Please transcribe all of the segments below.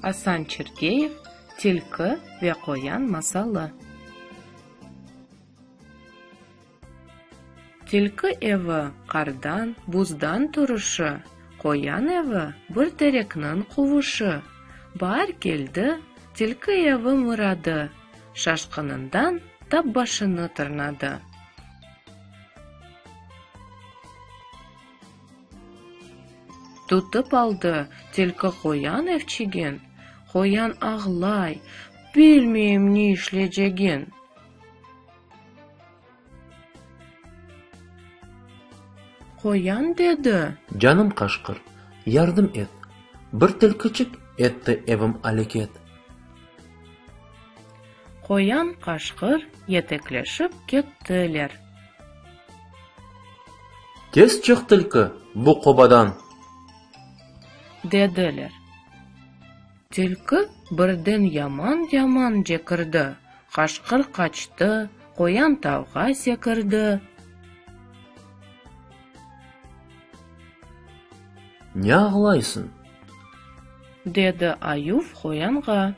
Asan Çerkeyev, Tilki ve qoyan masalı. Tilki evi, qardan, buzdan turışı, Qoyan evi, bir terekniñ quvuşi. Baar keldi, tilki evi mıradı, Şaşqınından tap başını tırnadı. Tutıp aldı tilki qoyan evçigin, Qoyan ağlay, Bilmeyim ne işleycegin. Qoyan dedi. Canım qaşqır, yardım et, Bir tilkiçik etti evim aleket. Qoyan qaşqır yetekleşip kettiler. Tez çık tilki bu qobadan. Dediler. Tilki birden yaman-yaman cekirdi, qaşqır qaçtı, qoyan tavğa sekirdi. Ne ağlaysıñ? Dedi ayuv qoyanğa.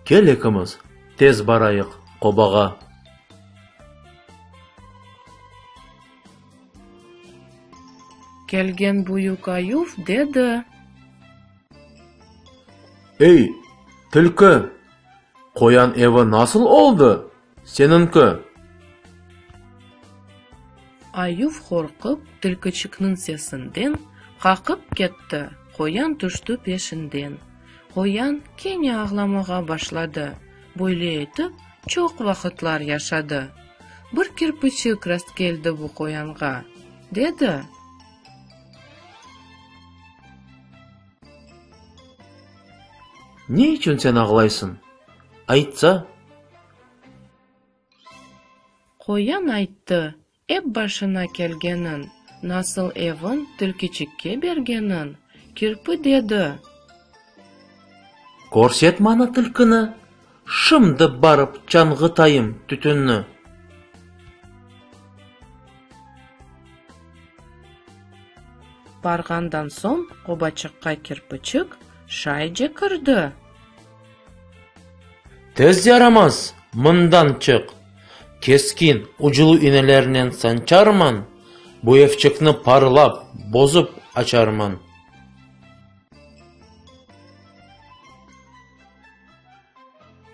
Kel ekimiz, tez barayıq obağa. Kelgen büyük ayuv dedi. Ey, tilki, qoyan evi nasıl oldı? Seniñki. Ayuv qorqıp, tilkiçikniñ sesinden, qaqıp ketti, qoyan tüşti peşinden. Qoyan kene ağlamağa başladı. Böyle etip, çoq vaqıtlar yaşadı. Bir kirpiçik rastkeldi bu qoyanğa, dedi. Ne içün sen ağlaysıñ? Aytsa. Qoyan ayttı, ep başına kelgenin, nasıl evin tilkiçikke bergenin. Kirpi dedi. Körset maña tilkini! Şimdi barıp çanğıtayım tütünni. Barğandan soñ obaçıqqa kirpiçik şayce kirdi. Tez yaramaz, mından çık! Keskin, uclu iğnelernen sançarman, bu evçikni parlap, bozup açarman.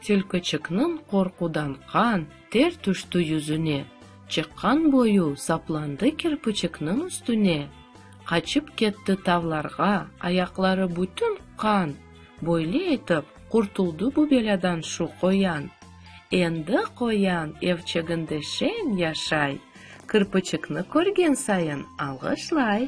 Tülküçikniñ qorqudan qan, ter tüşti yüzüne, çıqqan boyu saplandı kirpiçikniñ üstüne, qaçıp ketti tavlarğa, ayaqları bütün qan, böyle etip, qurtuldı bu belâdan şu qoyan. Endi qoyan evçeginde şeñ yaşay, kirpiçikni körgen sayın alğışlay.